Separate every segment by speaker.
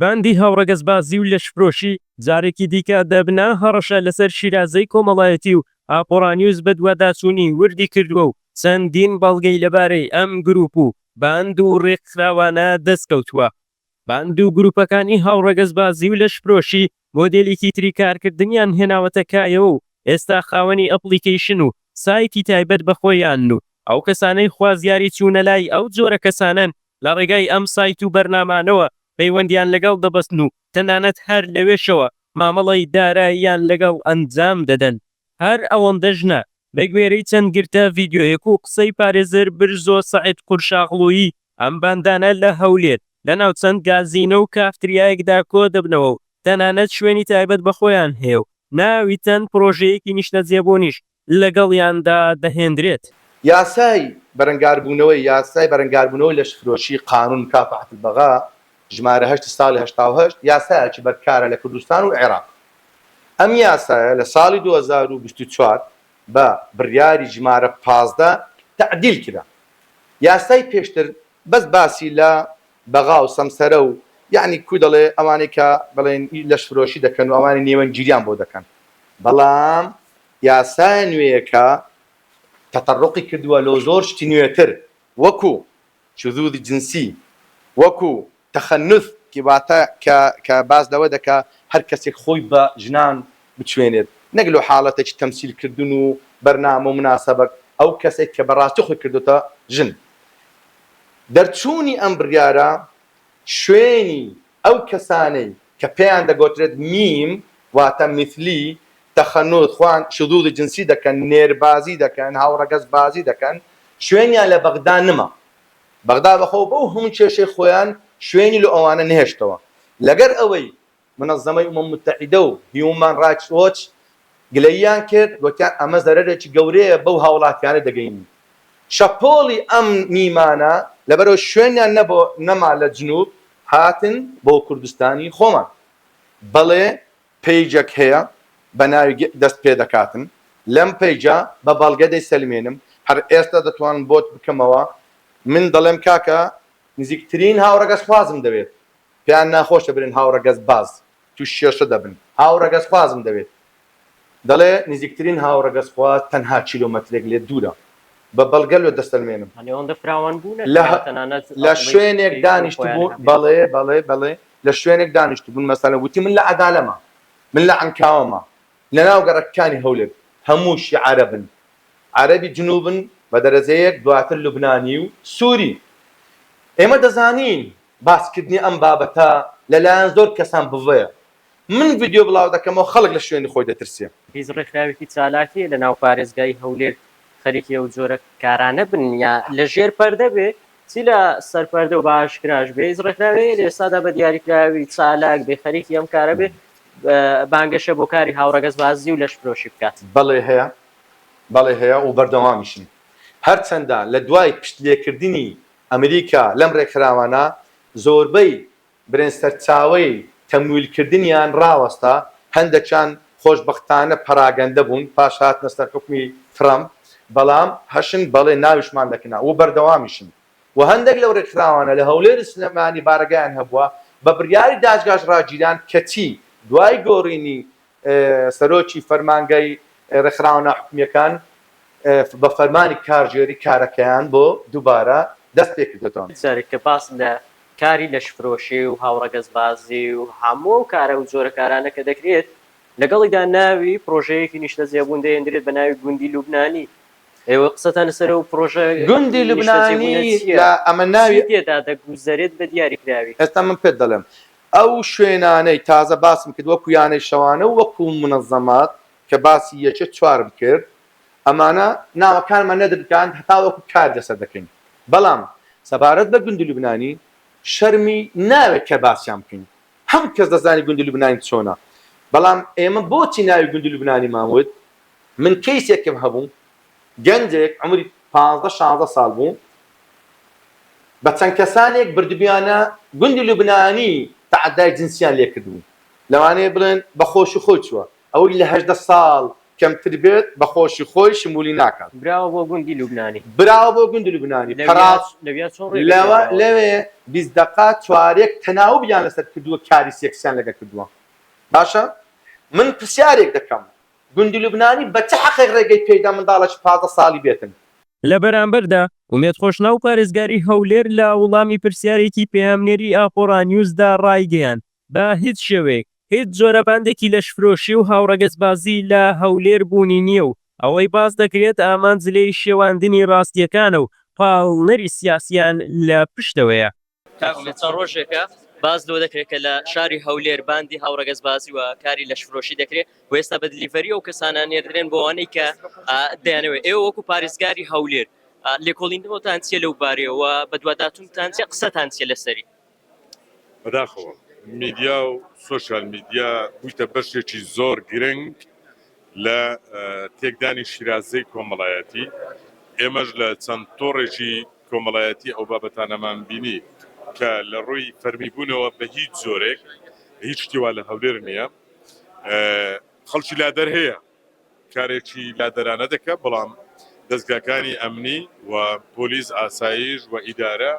Speaker 1: باندی هاوڕەگەزبازی و لەشفرۆشی جارێکی دیکە دەبنە هەڕەشە لەسەر شیرازەی کۆمەڵایەتی و ئاپۆڕانیوز بەدواداچوونی وردی کردووە و چەندین بەڵگەی لەبارەی ئەم گرووپ و باند و ڕێکخراوانە دەستکەوتووە. باند و گروپەکانی هاوڕەگەزبازی و لەشفرۆشی مۆدێلیکی تری کارکردنیان هێناوەتە کایەوە و ئێستا خاوەنی ئەپڵیکەیشن و سایتی تایبەت بە خۆیانن و ئەو کەسانەی خوازیاری چوونە لای ئەو جۆرە کەسانەن لە ڕێگای ئەم سایت و بەرنامانەوە پەیوەندیان لەگەڵ دەبەستن و تەنانەت هەر لەوێشەوە مامەڵەی داراییان لەگەڵ ئەنجام دەدەن. هەر ئەوەندەش نا، بەگوێرەی چەند گرتە ڤیدیۆیەک و قسەی پارێزەر برزۆ سەعید قورشاغڵویی، ئەم باندانە لە هەولێر لە ناو چەند گازینۆ و کافتریایەکدا کۆ دەبنەوە و تەنانەت شوێنی تایبەت بە خۆیان هەیە و ناوی چەند پرۆژەیەکی نیشتەجێبوونیش لەگەڵیاندا دەهێندرێت. یاسای
Speaker 2: بەرەنگاربوونەوەی یاسای بەرەنگاربوونەوەی لەشفرۆشی، قانون مکافحة البغاء، ژمارە هەشت ساڵی هەشتا و هەشت یاسایەکی بەرکارە لە کوردستان و عێراق. ئەم یاسایە لە ساڵی دوو هەزار و بیست و چوار بە بڕیاری ژمارە پازدە تەعدیل کرا. یاسای پێشتر بەس باسی لە بەغا و سەمسەرە و یەعنی کوو دەڵێ ئەوانەی کە بڵێن ئی لەشفرۆشی دەکەن و ئەوانەی نێوەندگیریان بۆ دەکەن. بەڵام یاسایە نوێیەکە تەتەڕوقی کردووە لۆ زۆر شتی نوێتر وەکوو شذوذ جنسی، وەکو، تخنث، ی واتە کە کە باس لەوە دەکا هەر کەسێک خۆی بە ژنان بچوێنێت نەک لۆ حاڵەتێکی تەمسیل کردن و بەرنامە و مناسەبەک ئەو کەسێک کە بە ڕاستی خۆی کردۆتە ژن. دەرچوونی ئەم بڕیارە شوێنی ئەو کەسانەی کە پێیان دەگۆترێت میم واتە میثلی، تخنث، خوان، شذوذ جنسی دەکەن، نێربازی دەکەن، هاوڕەگەز بازی دەکەن، شوێنیان لە بەغدا نما. بەغدا بەخۆو بەو هەموو کێشەی خۆیان شوێنی لۆ ئەوانە نەهێشتەوە. لەگەر ئەوەی منظمەی ئومم متحیدە و هیوومان ڕایتس وۆچ گلەییان کرد، گوتیان ئەمە زەرەرێکی گەورەیە بەو هاوڵاتیانە دەگەینین. شەپۆڵی ئەم میمانە لەبەرئەوەی شوێنیان نەبۆ نەما لە جنوب هاتن بۆ کوردستانی خۆمان. بەڵێ پەیجەک هەیە بە ناوی گە دەست پێدەکاتن لەم پەیجە بە بەڵگە دەیسەلمێنم هەر ئێستا دەتوانم بۆت بکەمەوە من دەڵێم کاکە نزیکترین هاوڕەگەزخوازم دەوێت پێیان ناخۆشە برێن هاوڕەگەزباز تووشی کێشە دەبن. هاوڕەگەزخوازم دەوێت. دەڵێ نزیکترین هاوڕەگەزخواز تەنها کیلۆمەترێک لێت دوورە. بە بەڵگە لۆت دەسەلمێنم. لە شوێنێک دانیشتبوون، بەڵێ، بەڵێ، بەڵێ، لە شوێنێک دانیشتبوون، مەسەلەن وتی من لە عەدالەمە، من لە عەنکاوەمە، لەناو گەڕەکەکانی هەولێر هەمووشی عەرەبن، عەرەبی جنووبن بە دەرەجەیەک، دواتر لوبنانی و سووری. ئێمە دەزانین باسکردنی ئەم بابەتە لەلایەن زۆر کەسان بڤەیە. من ڤیدیۆ بڵاو دەکەمەوە خەڵک لە شوێنی خۆی دەترسێ. هیچ ڕێکخراوێکی
Speaker 3: چالاک هەیە لەناو پارێزگای هەولێر خەریکی ئەو جۆرە کارانە بن یا لە ژێر پەردە بێ چی لە سەرپەردە و بە ئاشکراش بێ هیچ ڕێکخراوێ هەیە لە ئێستادا بە دیاریکراوی چالاک بێ خەریکی ئەم کارە بێ بانگەشە بۆ کاری هاوڕەگەزبازی و لەشفرۆشی بکات؟ بەڵێ هەیە
Speaker 2: بەڵێ هەیە و بەردەوامیشن هەرچەندە لە دوای پشت لێکردنی ئەمریکا لەم ڕێکخراوانە زۆربەی برێن سەرچاوەی تەمویلکردنیان ڕاوەستا، هەندەکیان خۆشبەختانە پەراگەندە بوون پاش هاتنە سەر حوکمی ترەمپ، بەڵام هەشن بەڵێ ناویشمان دەکنا و بەردەوامیشن و هەندەک لەو ڕێکخراوانە لە هەولێر و سلێمانی بارەگایان هەبووە بە بریاری دادگاش ڕاگیران کەچی دوای گۆڕینی سەرۆکی فەرمانگەی ڕێکخراوە ناحکومییەکان بە فەرمانی کارگێری کارەکەیان بۆ دووبارە دەست پێ کردۆتەوە. جارێک کە باس لە
Speaker 3: کاری لەشفرۆشی و هاوڕەگەزبازی و هەموو ئەو کارە و جۆرە کارانە کە دەکرێت، لەگەڵیدا ناوی پرۆژەیەکی نیشتەجێبوون دەهێندرێت بە ناوی گوندی لوبنانی. ئێوە قسەتان لەسەر ئەو پرۆژە نیشتەجێبوونە
Speaker 2: چییە؟ چی تێدا دەگوزەرێت
Speaker 3: بە دیاریکراوی؟ ئێستا من پێت دەڵێم.
Speaker 2: ئەو شوێنانەی تازە باسم کرد وەکو یانەی شەوانە و وەکو منەزەمات کە باسی یەکێ چوارم کرد ئەمانە ناوەکانمان نەدرکاند هەتاوەکو کار لەسەر دەکەین بەڵام سەبارەت بە گوندی لوبنانی شەرمی ناوێت کە باسیان بکەین هەمو کەس دەزانی گوندی لوبنانی چۆنە بەڵام ئێمە بۆچی ناوی گوندی لوبنانیمان وت من کەیسێکم هەبو گەنجێک عەمری پازدە شازدە ساڵ بوو بە چەند کەسانێک بردبیانە گوندی لوبنانی تەعەدای جنسیان لێ کردبوو لەوانەیە بڵێن بە خۆشی خۆی چووە ئەوەی لە هەژدە ساڵ کەمتر بێت بە خۆشی خۆی شمولی ناکات. براوە بۆ گوندی
Speaker 3: لوبنانی. براوە بۆ گوندی
Speaker 2: لوبنانی پەراس لەویا چۆن ڕێ لەوە لەوێ بیست دەقە چوارێک تەناوبیان لەسەر کردووە کاری سێکسیان لەگەر کردووە باشە من پرسیارێک دەکەم گوندی لوبنانی بە چ حەقێک ڕێگەی پێیدا منداڵێکی پازدە ساڵی بێتن؟ لە بەرامبەردا،
Speaker 1: ئومێد خۆشناو پارێزگاری هەولێر لە وڵامی پرسیارێکی پەیامنێری ئاپۆرانیوزدا ڕایگەیاند، بە هیچ شێوەیەک هیچ جۆرە باندێکی لەشفرۆشی و هاوڕەگەزبازی لە هەولێر بوونی نییە و ئەوەی باس دەکرێت ئامانج لێی شێواندنی ڕاستییەکانە و پاڵنەری سیاسییان لە پشتەوەیە. کاک ئومێد چەند
Speaker 3: ڕۆژێکە باس لەوە دەکرێت کە لە شاری هەولێر باندی هاوڕەگەزبازی و کاری لەشفرۆشی دەکرێت و ئێستا بە دلیڤەری ئەو کەسانە نێردرێن بۆ ئەوانەی کە ئا، دەیانەوێت ئێوە وەکو پارێزگاری هەولێر ئا، لێکۆڵینەوەتان چییە لەو بارەیەوە بەدواداچوونتان چییە قسەتان چییە لەسەری؟
Speaker 4: بەداخەوە میدیا و سۆشیال میدیا بوویتە بەشێکی زۆر گرنگ لە تێکدانی شیرازەی کۆمەڵایەتی، ئێمەش لە چەند تۆڕێکی کۆمەڵایەتی ئەو بابەتانەمان بینی کە لە ڕووی فەرمیبوونەوە بە هیچ جۆرێک هیچ شتی وا لە هەولێر نییە. خەڵکی لادەر هەیە کارێکی لادەرانە دەکات، بەڵام دەزگاکانی ئەمنی و پۆلیس، ئاسایش و ئیدارە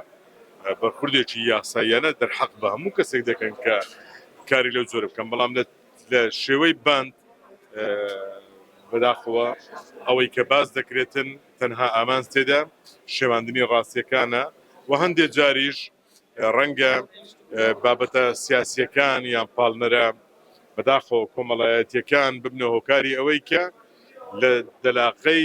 Speaker 4: بەرخوردێکی یاساییانە دەرحەق بە هەموو کەسێک دەکەن کە کاری لەو جۆرە بکەن، بەڵام لە. لە شێوەی باند بەداخەوە ئەوەی کە باس دەکرێتن تەنها ئامانج تێدا شێواندنی ڕاستیەکانە و هەندێ جاریش ڕەنگە بابەتە سیاسیەکان یان پاڵنەرە بەداخەوە کۆمەڵایەتیەکان ببنە هۆکاری ئەوەی کە لە دەلاقەی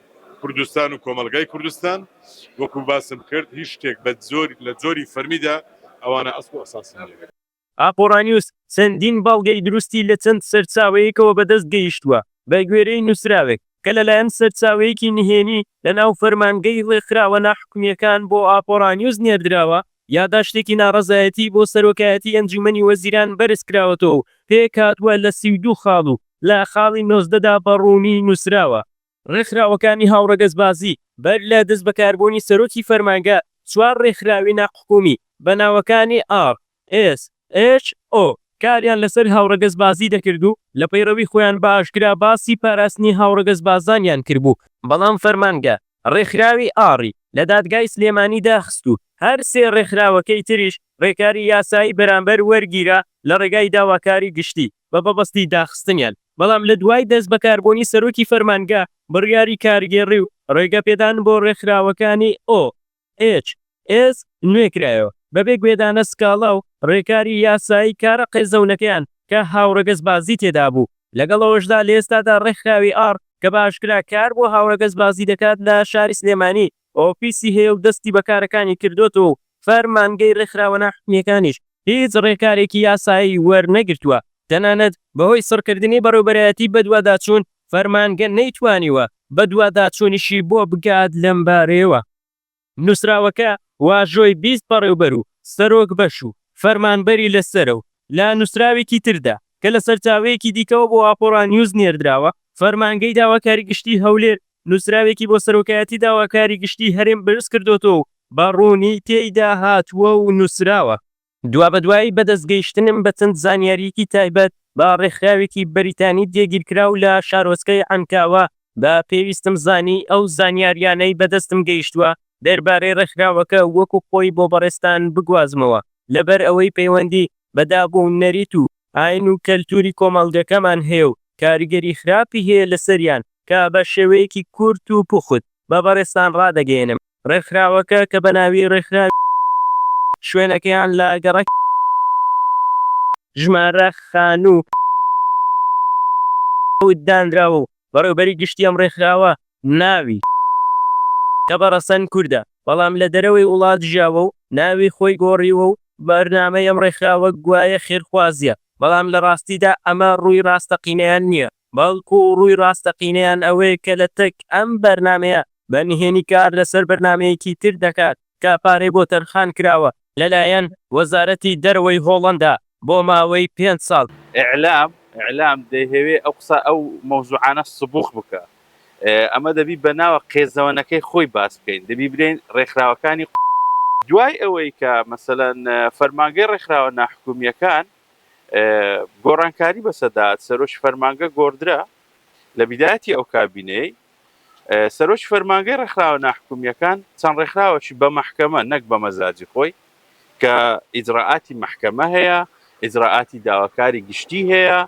Speaker 4: کوردستان و کۆمەڵگای کوردستان وەکو باسم کرد هیچ شتێک بە جۆری لە جۆری فەرمیدا ئەوانە ئەسڵ و ئەساسی نیە. ئاقۆڕانیوز
Speaker 1: چەندین بەڵگەی دروستی لە چەند سەرچاوەیەکەوە بەدەست گەیشتووە، بەگوێرەی نووسراوێک کە لەلایەن سەرچاوەیەکی نهێنی لەناو فەرمانگەی ڕێکخراوە ناحکومییەکان بۆ ئاپۆڕانیوز نێردراوە، یاداشتێکی ناڕەزایەتی بۆ سەرۆکایەتی ئەنجوومەنی وەزیران بەرزکراوەتەوە و پێکهاتووە لە سی و دوو خاڵ و لە خاڵی نۆزدەدا بە ڕوونی نووسراوە، ڕێکخراوەکانی هاوڕەگەزبازی، بەر لە دەستبەکاربوونی سەرۆکی فەرمانگە، چوار ڕێکخراوی ناحکومی بە ناوەکانی ئاڕ ئێس ئێچ ئۆ کاریان لەسەر هاوڕەگەزبازی دەکرد و لە پەیڕەوی خۆیان بە ئاشکرا باسی پاراستنی هاوڕەگەزبازانیان کردبوو، بەڵام فەرمانگە ڕێکخراوی ئاڕی لە دادگای سلێمانی داخست و هەر سێ ڕێکخراوەکەی تریش ڕێکاری یاسایی بەرامبەر وەرگیرا لە ڕێگای داواکاری گشتی بە بەبەستی داخستنیان. بەڵام لە دوای دەست بەکاربوونی سەرۆکی فەرمانگە، بڕیاری کارگێڕی و ڕێگەپێدان بۆ ڕێکخراوەکانی ئۆ. ئێچ. ئێس نوێکرایەوە، بەبێ گوێدانە سکاڵا و ڕێکاری یاسایی کارە قێزەونەکەیان کە هاوڕەگەزبازی تێدابوو، لەگەڵ ئەوەشدا لە ئێستادا ڕێکخراوی ئاڕ کە بە ئاشکرا کار بۆ هاوڕەگەزبازی دەکات لە شاری سلێمانی، ئۆفیسی هەیە و دەستی بە کارەکانی کردۆتەوە و فەرمانگەی ڕێکخراوە ناحکومییەکانیش هیچ ڕێکارێکی یاسایی وەرنەگرتووە، تەنانەت بەهۆی سڕکردنی بەڕێوبەرایەتی بەدواداچوون، فەرمانگە نەیتوانیوە بەدواداچوونیشی بۆ بکات لەم بارەیەوە. نووسراوەکە واژۆی بیست بەڕێوبەر و سەرۆک بەش و فەرمانبەری لەسەرە و لە نووسراوێکی تردا کە لە سەرچاوەیەکی دیکەوە بۆ ئاپۆڕا نیوز نێردراوە، فەرمانگەی داواکاری گشتیی هەولێر نووسراوێکی بۆ سەرۆکایەتی داواکاری گشتیی هەرێم بەرزکردۆتەوە و بە ڕوونی تێیدا هاتووە و نووسراوە، دوابەدوای بەدەستگەیشتنم بە چەند زانیارییەکی تایبەت بە ڕێکخراوێکی بەریتانی جێگیرکراو لە شارۆچکەی عەنکاوە، بە پێویستم زانی ئەو زانیارییانەی بەدەستم گەیشتووە دەربارەی ڕێکخراوەکە وەکو خۆی بۆ بەڕێزتان بگوازمەوە، لەبەر ئەوەی پەیوەندی بە داب و نەریت و ئاین و کەلتوری کۆمەڵگەکەمان هەیە و کاریگەری خراپی هەیە لەسەریان کە بە شێوەیەکی کورت و پوخت بە بەڕێزتان ڕادەگەیەنم ڕێکخراوەکە کە بە ناوی ڕێکخراوی شوێنەکەیان لە گەڕەکی ژمارە خانوو حەوت دانراوە و بەڕێوبەری گشتی ئەم ڕێکخراوە ناوی، کەبە ڕەسەن کوردە، بەڵام لە دەرەوەی وڵات ژیاوە و ناوی خۆی گۆڕیوە و بەرنامەی ئەم ڕێکخراوە گوایە خێرخوازییە، بەڵام لە ڕاستیدا ئەمە ڕووی ڕاستەقینەیان نییە، بەڵکو ڕووی ڕاستەقینەیان ئەوەیە کە لەتەک ئەم بەرنامەیە بە نهێنی کار لەسەر بەرنامەیەکی تر دەکات. کە پارەی بۆ تەرخان کراوە لەلایەن وەزارەتی دەرەوەی هۆڵەندا بۆ ماوەی پێنج ساڵ. ئیعلام، ئیعلام،
Speaker 5: دەیهەوێ ئەو قسە ئەو مەوزوعانە سبوخ بکا. ئەمە دەبی بە ناوە قێزەوەنەکەی خۆی باس بکەین. دەبی برێین رێکخراوەکانی. دوای ئەوەی کە مەسەلەن فەرمانگەی رێکخراوە ناحکومییەکان گۆڕانکاری بەسەدا هات، سەرۆکی فەرمانگە گۆڕدرا لە بیدایەتی ئەو کابینەیەی. سەرۆکی فەرمانگەی ڕێکخراوە ناحکومییەکان چەند ڕێکخراوەکی بە مەحکەمە نەک بە مەزاجی خۆی کە ئیجرراعاتی مەحکەمە هەیە ئیجرراعاتی داواکاری گشتی هەیە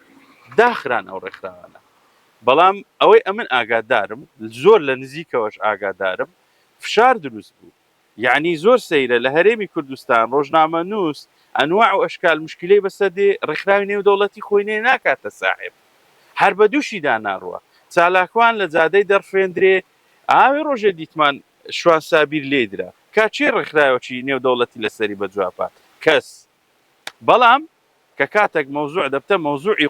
Speaker 5: داخران ئەو ڕێکخراوانە بەڵام ئەوەی ئەمن ئاگادارم زۆر لە نزیکەوەش ئاگادارم فشار دروست بوو یەعنی زۆر سەیرە لە هەرێمی کوردستان ڕۆژنامەنووس ئەنواع و ئەشکال موشکیلەی بەسەر دێ ڕێکخراوی نێودەوڵەتی خۆی نێ ناکاتە ساحێب هەر بە دووشیدا ناڕوا چالاکوان لە جادەی دەڕفێندرێ ئاوێ ڕۆژێ دیتمان شوان سابیر لێی درا کاچێ ڕێکخراوەکی نێودەوڵەتی لەسەری بە جواب هات کەس بەڵام کە کاتەک مەوزوع دەبتە مەوزوعی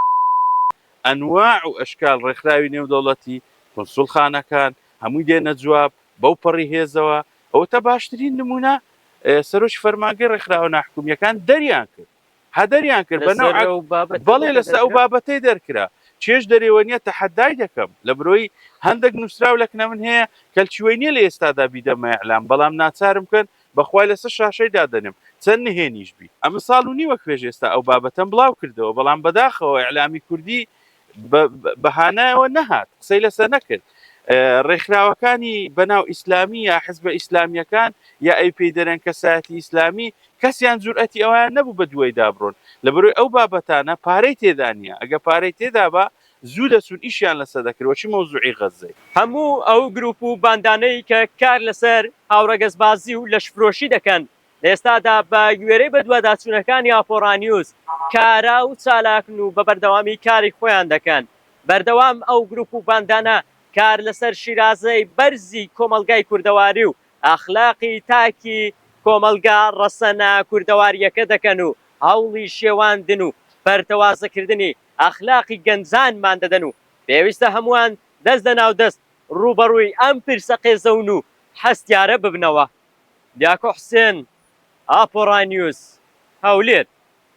Speaker 5: ئەنواع و ئەشکال ڕێکخراوی نێودەوڵەتی، کونسوڵخانەکان، هەمووی دێنە جواب بەو پەڕی هێزەوە، ئەوەتا باشترین نمونە سەرۆکی فەرمانگەی ڕێکخراوە ناحکومیەکان دەریان کرد ها دەریان کرد بە نەوعەک لەسەر ئەو بابەتەی بەڵێ دەرکرا. لەسەر ئەو بابەتەی دەرکرا چێژ دەرێوە نیە تەحەدای دەکەم لە برۆی هەندەک نوسراو لەکنە من هەیە کەلچوەی نیە لە ئێستادا بیدەمە ئیعلام بەڵام ناچارم کەن بەخوای لەسەر شاشەی دادەنێم چەند نهێنیش بی. ئەمن ساڵ و نیوەک پێش ئێستا ئەو بابەتەم بڵاو کردەوە بەڵام بەداخەوە ئیعلامی کوردی بە بەهانایەوە نەهات قسەی لەسە نەکرد ڕێکخراوەکانی بەناو ئیسلامی یا حزبە ئیسلامیەکان یا ئەی پێی دەرێن کەسایەتی ئیسلامی کەسیان جورئەتی ئەویان نەبوو بە دوای دابڕۆن لەبەروی ئەو بابەتانە پارەی تێدانە ئەگە پارەی تێدابا زوو دەچوون ئیشیان لەسەر دەکرد وەچی مەوزوعی غەززەی. هەموو ئەو گروپ
Speaker 3: و باندانەی کە کار لەسەر هاوڕەگەزبازی و لەشفرۆشی دەکەن لە ئێستادا بە گوێرەی بەدواداچوونەکانی ئاپۆڕانیوز کارا و چالاکن و بە بەردەوامی کاری خۆیان دەکەن بەردەوام ئەو گروپ و باندانە کار لەسەر شیرازەی بەرزی کۆمەڵگای کوردەواری و ئەخلاقی تاکی کۆمەڵگا ڕەسەنە کوردەواریەکە دەکەن و هەوڵی شێواندن و پەرتەوازەکردنی ئەخلاقی گەنجانمان دەدەن و پێویستە هەمووان دەست لە ناو دەست ڕووبەڕووی ئەم پرسە قێزەون و هەستیارە ببنەوە. دیاکۆ حوسێن، ئاپۆڕا نیوز، هەولێر.